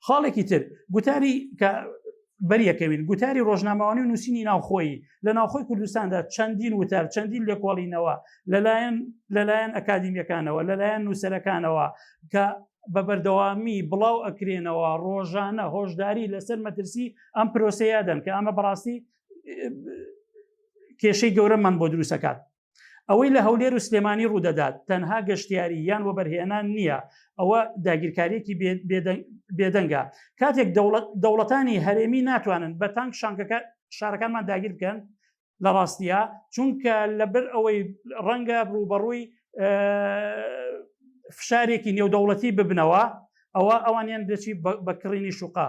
خاڵێکی تر گوتاری کە بەریەکەوین گوتاری ڕۆژنامەوانی و نووسینی ناوخۆی لە ناوخۆی کوردستاندا چەندین وتار چەندین لێکۆڵینەوە لەلایەن لەلایەن ئەکادیمیەکانەوە لەلایەن نووسەرەکانەوە کە بە بەردەوامی بڵاو ئەکرێنەوە ڕۆژانە هۆشداری لەسەر مەترسی ئەم پرۆسەیە دەن کە ئەمە بەڕاستی کێشەی گەورەمان بۆ دروستەکات ئەوەی لە هەولێر و سلێمانی ڕوودەدات تەنها گەشتیاری یان وەبەرهێنان نییە ئەوە داگیرکاریەکی بێدەنگە کاتێک دەوڵەتانی هەرێمی ناتوانن بە تانک شانکەکە شارەکانمان داگیر بکەن لە ڕاستیە چونکە لەبەر ئەوەی ڕەنگە ڕوبەڕووی فشارێکی نێودەوڵەتی ببنەوە ئەوە ئەوانیان دەچی بەکڕینی شوقا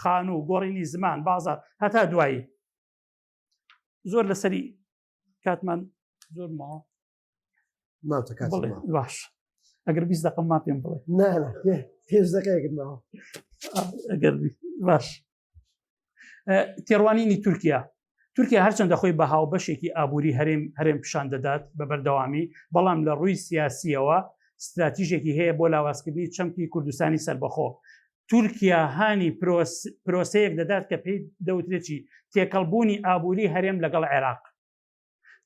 خان و گۆڕینی زمان بازار هەتا دوایی زۆر لەسەری کاتمان زۆر ماوە باش ئەگەر بیست دقم ما پێم بڵێ پێش دەکەێکم ماوە ئەگەر باش تێڕوانینی تورکیا تورکیا هەرچەندە خۆی بە هاو بەشێکی ئابووری هەرێم هەرێم پیشان دەدات بە بەردەوامی بەڵام لە ڕووی سیاسیەوە استراتیژێکی هەیە بۆ لاوازکردنی چەمکی کوردستانی سربەخۆ تورکیا هانی پرۆسەیەک دەدات کە پێی دەوترێکی تێکەڵبوونی ئابووری هەرێم لەگەڵ عێراق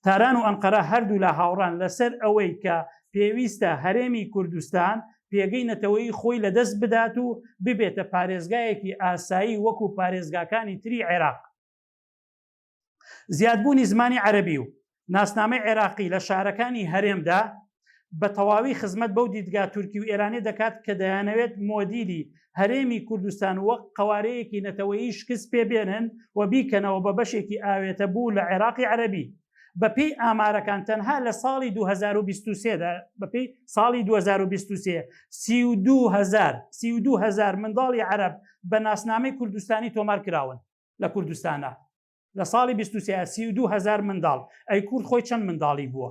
تاران و ئەنقەرە هەردوو لە هاوڕان لەسەر ئەوەی کە پێویستە هەرێمی کوردستان پێگەی نەتەوەی خۆی لەدەست بدات و ببێتە پارێزگایەکی ئاسایی وەکو پارێزگاکانی تری عێراق زیادبوونی زمانی عەرەبی و ناسنامەی عێراقی لە شارەکانی هەرێمدا بە تەواوی خزمەت بەو دیدگا تورکی و ئێرانیە دەکات کە دەیانەوێت مۆدیلی هەرێمی کوردستان وەک قەوارەیەکی نەتەوەیی شکست پێ بێنن و بیکەنەوە بە بەشێکی ئاوێتەبوو لە عێراقی عەرەبی. بەپێی ئامارەکان تەنها لە ساڵی دوو هەزار و بیست و سێ دا، بەپێی ساڵی دوو هەزار و بیست و سێ، سی و دوو هەزار، سی و دوو هەزار منداڵی عەرەب بە ناسنامەی کوردستانی تۆمار کراون. لە کوردستانا لە ساڵی بیست و سێ سی و دوو هەزار منداڵ ئەی کورد خۆی چەند منداڵی بووە